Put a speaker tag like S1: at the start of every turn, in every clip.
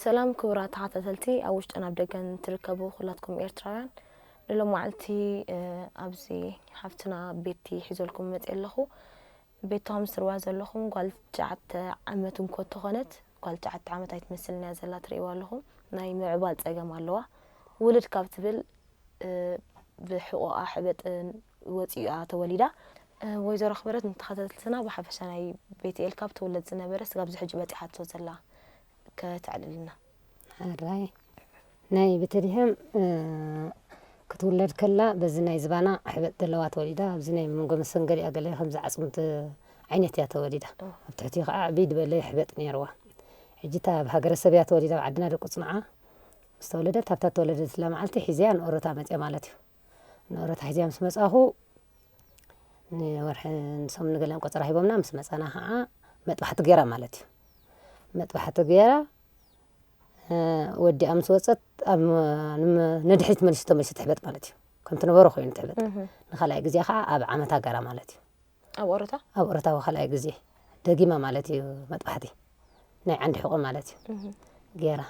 S1: ሰላም ክቡራት ተኸታተልቲ ኣብ ውሽጥን ኣብ ደገን ትርከቡ ኩላትኩም ኤርትራውያን ንሎማዓልቲ ኣብዚ ሓፍትና ቤቲ ሒዘልኩም መፅ ኣለኹ ቤቶም ስርዋ ዘለኹም ጓል ትሽዓተ ዓመት እንኮ ተኾነት ጓል ትሽዓተ ዓመት ኣይትመስልን እያ ዘላ ትርእይዋ ኣለኹም ናይ ምዕባል ጸገም ኣለዋ ውልድ ካብ ትብል ብሕቆኣ ሕበጥ ወጺኡያ ተወሊዳ። ወይዘሮ ኣኽብረት ንተኸታተልትና ብሓፈሻ ናይ ቤትኤል ካብ ትውለድ ዝነበረ ስጋብ ዝሕጂ በጺሓቶ ዘላ ከተዕልልና። ሕራይ
S2: ናይ ቤተልሔም ክትውለድ ከላ በዚ ናይ ዝባና ሕበጥ ዘለዋ ተወሊዳ ኣብዚ ናይ መንጎ መሰንገሊኣ ገለ ከምዚ ዓጽምቲ ዓይነት እያ ተወሊዳ ኣብ ትሕቲኡ ከዓ ዕብይ ዝበለ ሕበጥ ነይርዋ ሕጂ እታ ኣብ ሃገረሰብ እያ ተወሊዳ ኣብ ዓድና ደቁ ጽንዓ ምስ ተወለደት ኣብታ ተወለደትላ መዓልቲ ሒዘያ ንኦረታ መጽያ ማለት እዩ ንኦረታ ሒዘያ ምስ መጻኹ ንወርሒ ንሶም ንገለን ቆጸራ ሂቦምና ምስ መጻና ከዓ መጥባሕቲ ገይራ ማለት እዩ መጥባሕቲ ገይራ ወዲኣ ምስ ወፀት ኣብ ንድሕሪት መልሲ ተመልሲ ትሕበጥ ማለት እዩ ከምቲ ነበሮ ኮይኑ ትሕበጥ ንካልኣይ ግዜ ከዓ ኣብ ዓመት ሃገራ ማለት እዩ ኣብ ኦሮታ ኣብ ኦሮታዊ ካልኣይ ግዜ ደጊማ ማለት እዩ መጥባሕቲ ናይ ዓንዲ ሕቆ ማለት እዩ ገይራ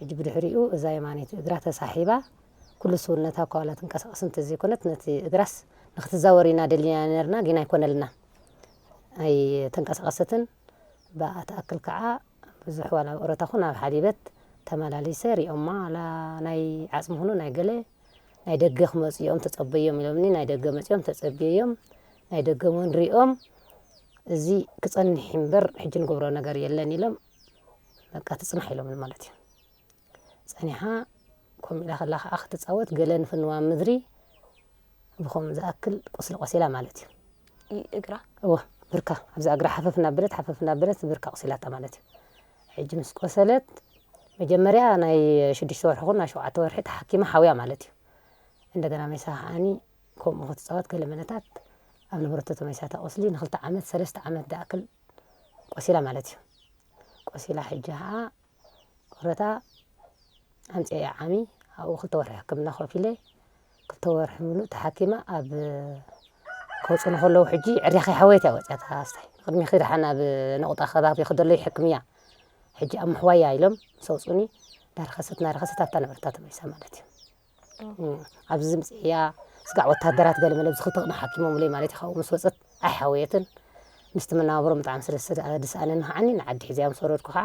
S2: ሕጂ ብድሕሪኡ እዛ የማኒት እግራ ተሳሒባ ኩሉ ስውነታ እኳ ዋላ ትንቀሳቀስ እንተዘይኮነት ነቲ እግራስ ንክትዛወር ኢና ደሊና ነርና ግን ኣይኮነልና ኣይተንቀሳቀሰትን ባኣ ትኣክል ካኣ ብዙሕ ዋላ ኣብ ኦሮታ ኩን ኣብ ሓሊበት ተማላሊሰ ሪኦማ ዋላ ናይ ዓጽሚ ኩኑ ናይ ገለ ናይ ደገ ክመጹ ኢዮም ተጸበዮም ኢሎምኒ ናይ ደገ መጺኦም ተጸብየዮም ናይ ደገ ውን ሪኦም እዚ ክጸንሕ ኢዩ እምበር ሕጂ ንገብሮ ነገር የለን ኢሎም በቃ ትጽናሕ ኢሎምኒ ማለት ኢዩ። ጸኒሓ ኮም ኢላ ከላ ከኣ ክትጻወት ገለ ንፍንዋ ምድሪ ብኸምኡ ዝኣክል ቁስሊ ቆሲላ ማለት እዩ። እግራ
S1: እወ ብርካ
S2: ኣብዛ እግራ ሓፈፍ እናበለት ሓፈፍ እናበለት ብርካ ቁሲላታ ማለት እዩ። ሕጂ ምስ ቆሰለት መጀመርያ ናይ ሽዱሽተ ወርሒ ኩን ናይ ሸውዓተ ወርሒ ተሓኪማ ሓውያ ማለት እዩ። እንደገና መይሳ ከዓኒ ከምኡ ክትጻወት ገለ መነታት ኣብ ነበረተቶ መይሳታ ቁስሊ ንክልተ ዓመት ሰለስተ ዓመት ዝኣክል ቆሲላ ማለት እዩ። ቆሲላ ሕጂ ከኣ ወረታ ኣምጺኤ ዓሚ ኣብኡ ክልተ ወርሒ ሕክምና ከፊለ ክልተ ወርሒ ምሉእ ተሓኪመ ኣብ ከውጽኡኒ ከለዉ ሕጂ ዕርያኺ ሓወየት እያ ወጺኣታ ኣስታይ ቅድሚኺ ደሓን ኣብ ነቑጣ ከባቢኺ ደሎ ይሕክም እያ ሕጂ ኣብ ምሕዋይ እያ ኢሎም ምስ ኣውጽኡኒ እናረኸሰት እናረኸሰት ኣብታ ነበረታ ተመሊሳ ማለት እዩ ኣብዚ ዝምጽእያ ስጋዕ ወታደራት ገለ መለ ብዝክል ተቅና ሓኪሞምለይ ማለት ኢካ ምስ ወጸት ኣይሓወየትን ምስቲ መናባብሮም ብጣዕሚ ስለ ዝሰኣነኒ ከዓኒ ንዓዲ ሒዘያ ምስ ወረድኩ ከዓ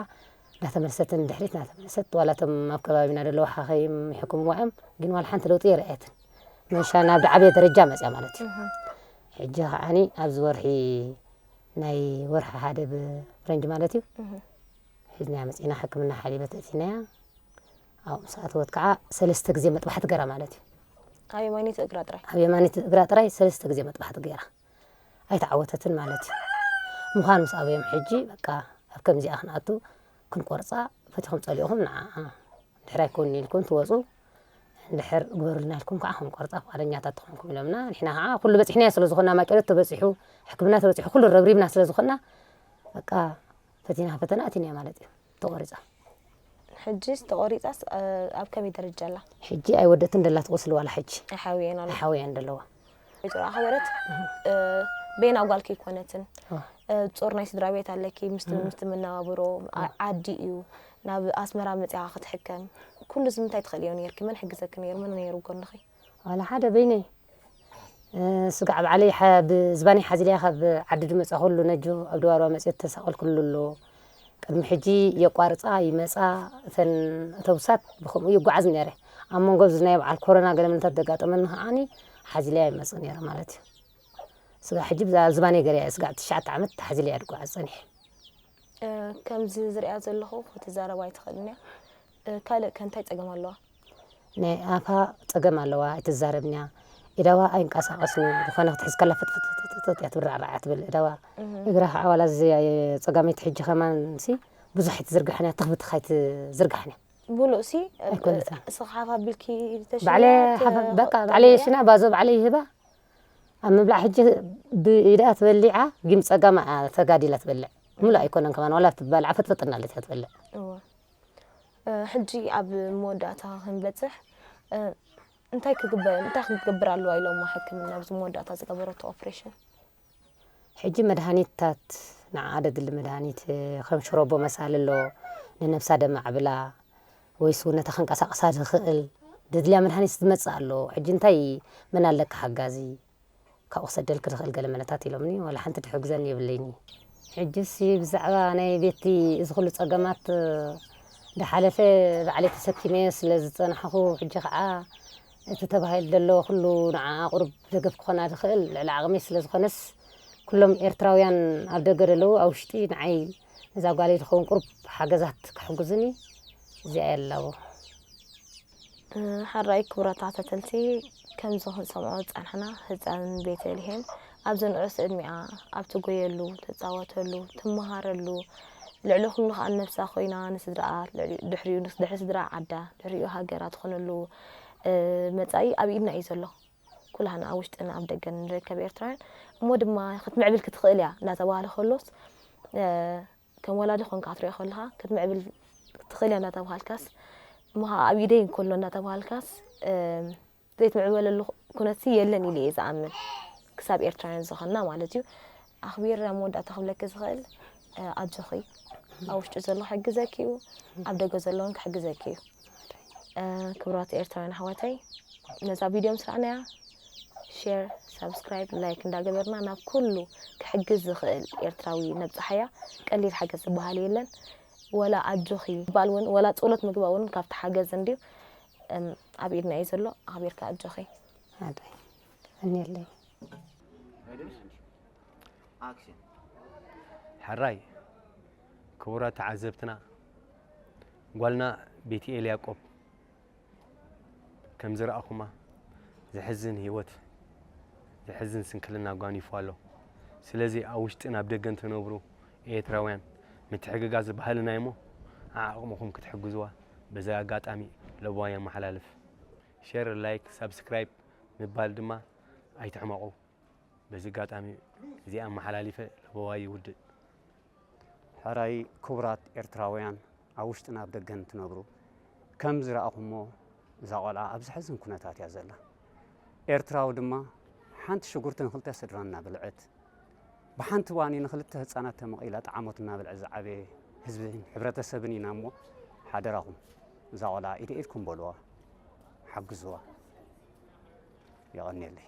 S2: እንዳተመለሰትን ንድሕሪት እንዳተመለሰት ዋላ እቶም ኣብ ከባቢና ዘለዉ ሓኸይም ይሕክምዋ እዮም ግን ዋላ ሓንቲ ለውጢ የርኣየትን መሻ ናብ ድዓበየ ደረጃ መፅያ ማለት እዩ ሕጂ ከዓኒ ኣብዚ ወርሒ ናይ ወርሒ ሓደ ብፍረንጂ ማለት እዩ ሒዝናያ መፂና ሕክምና ሓሊበት እቲናያ ኣብኡ ምስ ኣተወት ከኣ ሰለስተ ግዜ መጥባሕቲ ገራ ማለት እዩ። ኣብ የማነይቲ
S1: እግራ ጥራይ። ኣብ የማነይቲ እግራ ጥራይ
S2: ሰለስተ ግዜ መጥባሕቲ ገራ። ኣይተዓወተትን ማለት እዩ። ምዃን ምስ ኣበዮም ሕጂ በቃ ኣብ ከምዚኣ ክንኣቱ ክንቆርጻ ፈቲኹም ጸሊእኹም ንዓኣ ድሕር ኣይኮንን ኢልኩም ትወጹ እንድሕር ግበሩልና ኢልኩም ከዓ ክንቆርጻ ፍቓደኛታት ትኾንኩም ኢሎምና ንሕና ከዓ ኩሉ በጺሕናዮ ስለ ዝኾና ማቄሎት ተበጺሑ ሕክምና ተበጺሑ ኩሉ ረብሪብና ስለ ዝኾና በቃ ፈቲና ፈተና ኣቲናዮ ማለት እዩ። ተቆሪጻ
S1: ሕጂስ ተቆሪጻስ ኣብ ከመይ ደረጃ ኣላ? ሕጂ ኣይወደትን ደላ
S2: ትቆስል ዋላ ሕጂ ኣይሓውየን ኣሎ ሓውያን
S1: ደለዋ
S2: ወይዘሮ ኣኽበረት
S1: በይና ጓልኪ ኣይኮነትን ጾር ናይ ስድራ ቤት ኣለኪ ምስቲ ምስቲ መነባብሮ ዓዲ እዩ ናብ ኣስመራ መጽኻ ክትሕከም ኩሉ እዚ ምንታይ ትኽእልዮ ነርኪ መን ሕግዘኪ ነይሩ መን ነይሩ ጎንኺ ዋላ ሓደ በይነይ
S2: ስጋዕ ባዕለይ ብዝባነይ ሓዚለያ ካብ ዓዲ ድመፃኹሉ ነጆ ኣብ ደባርባ መፅዮ ተሳቐልኩሉ ኣሎ ቅድሚ ሕጂ የቋርፃ ይመፃ እተን ኣተውሳት ብከምኡ ይጓዓዝ ነረ ኣብ መንጎ ኣብዚ ናይ በዓል ኮሮና ገለ ምንታት ደጋጠመኒ ከዓኒ ሓዚለያ ይመፅእ ነረ ማለት እዩ ስጋዕ ሕጂ ብዛ ዝባነይ ገርያ ስጋዕ ትሽዓተ ዓመት ተሓዚለያ ድጓዓዝ ፀኒሐ
S1: ከምዚ ዝሪኣ ዘለኹ ክትዛረብ ኣይትኽእልን እያ ካልእ ከ እንታይ ጸገም ኣለዋ? ናይ ኣፋ
S2: ጸገም ኣለዋ ኣይትዛረብን'ያ እዳዋ ኣይንቃሳቀስን'ዩ ዝኮነ ክትሕዝ ከላ ፍጥፍጥፍጥፍጥ እያ ትብል ራዕራዕ እያ ትብል እዳዋ እግራ ከኣ ዋላ ጸጋመይቲ ሕጂ ከማን'ሲ ብዙሕ ኣይትዝርጋሕን እያ ትኽ ብትኽ ኣይትዝርጋሕን እያ ብሉ'ሲ
S1: ኣይኮነትን እስኺ ሓፍ ኣቢልኪ ተሽንያ ባዕለይ ሓፍ
S2: በቃ ባዕለይ የሽና ባዞ ባዕለይ ይህባ ኣብ ምብላዕ ሕጂ ብኢዳ ትበሊዓ ግን ጸጋማ ተጋዲላ ትበልዕ ምሉእ ኣይኮነን ከማን ዋላ ትበልዓ ፍጥፍጥ እናለት እያ ትበልዕ ሕጂ
S1: ኣብ መወዳእታ ክንበጽሕ እንታይ ክግበር እንታይ ክትገብር ኣለዋ ኢሎማ ሕክምና ኣብዚ መወዳእታ ዝገበረቶ ኦፕሬሽን
S2: ሕጂ መድሃኒትታት ንዓ ደድሊ መድሃኒት ከም ሽሮቦ መሳሊ ኣሎ ንነብሳ ደማዕብላ ወይስ ውነ ተኸንቀሳቕሳ ዝኽእል ደድልያ መድሃኒት ዝመጽእ ኣሎ ሕጂ እንታይ መን ኣለካ ሓጋዚ ካብ ክሰደልኪ ዝኽእል ገለ መለታት ኢሎምኒ ዋላ ሓንቲ ትሕግዘኒ የብለይን ሕጂሲ ብዛዕባ ናይ ቤቲ እዚ ኩሉ ጸገማት ዳሓለፈ ባዕለይ ተሰኪመ ስለ ዝጸናሕኹ ሕጂ ከኣ እቲ ተባሂሉ ዘሎ ኩሉ ንዓኣ ቁሩብ ደገፍ ክኾና ዝኽእል ልዕሊ ዓቕመይ ስለ ዝኾነስ ኩሎም ኤርትራውያን ኣብ ደገ ደለዉ ኣብ ውሽጢ ንዓይ ነዛ ጓለይ ዝኸውን ቁሩብ ሓገዛት ክሕግዙኒ እዚኣ ያላቦ
S1: ሐራይ ክቡራት ተኸታተልቲ ከምዚ ክንሰምዖ ዝጸናሕና ህጻን ቤተልሔም ኣብዚ ንዑስ ዕድሚኣ ኣብ ትጎየሉ፣ ትጻወተሉ፣ ትመሃረሉ ልዕሊ ኩሉ ከኣ ነብሳ ኮይና ንስድራኣ ድሕሪኡ ድሕሪ ስድራኣ ዓዳ ድሕሪኡ ሃገራ ትኾነሉ መጻኢ ኣብ ኢድና እዩ ዘሎ። ኩላህና ኣብ ውሽጥን ኣብ ደገን ንርከብ ኤርትራውያን እሞ ድማ ክትምዕብል ክትኽእል እያ እንዳተባህለ ከሎስ ከም ወላዲ ኮንካ ክትሪኦ ከለኻ ክትምዕብል ትኽእል እያ እንዳተባሃልካስ እሞ ኸኣ ኣብ ኢደይ እንከሎ እንዳተባሃልካስ ዘይትምዕበለሉ ኩነትሲ የለን ኢለ እየ ዝኣምን ክሳብ ኤርትራውያን ዝኾንና ማለት እዩ ኣኽቢር ኣብ መወዳእታ ክብለኪ ዝኽእል ኣጆኺ ኣብ ውሽጢ ዘሎ ክሕግዘኪ እዩ ኣብ ደገ ዘለውን ክሕግዘኪ እዩ ክብራት ኤርትራውያን ኣሕዋተይ ነዛ ቪድዮ ምስ ረኣናያ ሼር ሳብስክራይብ ላይክ እንዳገበርና ናብ ኩሉ ክሕግዝ ዝኽእል ኤርትራዊ ነብፅሓያ ቀሊል ሓገዝ ዝበሃል የለን ወላ ኣጆኺ ባል እውን ወላ ፀሎት ምግባ እውን ካብቲ ሓገዝ እንድዩ ኣብ ኢድና እዩ ዘሎ ኣኽቢርካ ኣጆኺ ኣዳይ
S2: እኒለይ
S3: ሕራይ ክቡራት ተዓዘብትና ጓልና ቤቲኤል ያቆብ ከም ዝረኣኹማ ዘሕዝን ህይወት ዘሕዝን ስንክልና ጓኒፉ ኣሎ። ስለዚ ኣብ ውሽጥን ኣብ ደገን ትነብሩ ኤርትራውያን ምትሕግጋዝ ባህልና እዩሞ ዓዓቕምኹም ክትሕግዙዋ በዚ ኣጋጣሚ ለበዋይ የመሓላልፍ። ሸር ላይክ ሳብስክራይብ ምባል ድማ ኣይትሕመቑ በዚ ኣጋጣሚ እዚ ኣመሓላሊፈ ለበዋይ ይውድእ።
S4: ሕራይ ክቡራት ኤርትራውያን ኣብ ውሽጥን ኣብ ደገን ትነብሩ ከም ዝረኣኹሞ እዛ ቆልዓ ኣብ ዘሕዝን ኩነታት እያ ዘላ ኤርትራዊ ድማ ሓንቲ ሽጉርቲ ንክልተ ስድራ እናበልዐት ብሓንቲ ዋኒ ንክልተ ህፃናት ተመቒላ ጣዕሞት እናበልዐ ዝዓበየ ህዝብን ሕብረተሰብን ኢና እሞ ሓደራኹም እዛ ቆልዓ ኢደ ኢድኩም በልዋ ሓግዝዋ የቐኒየለይ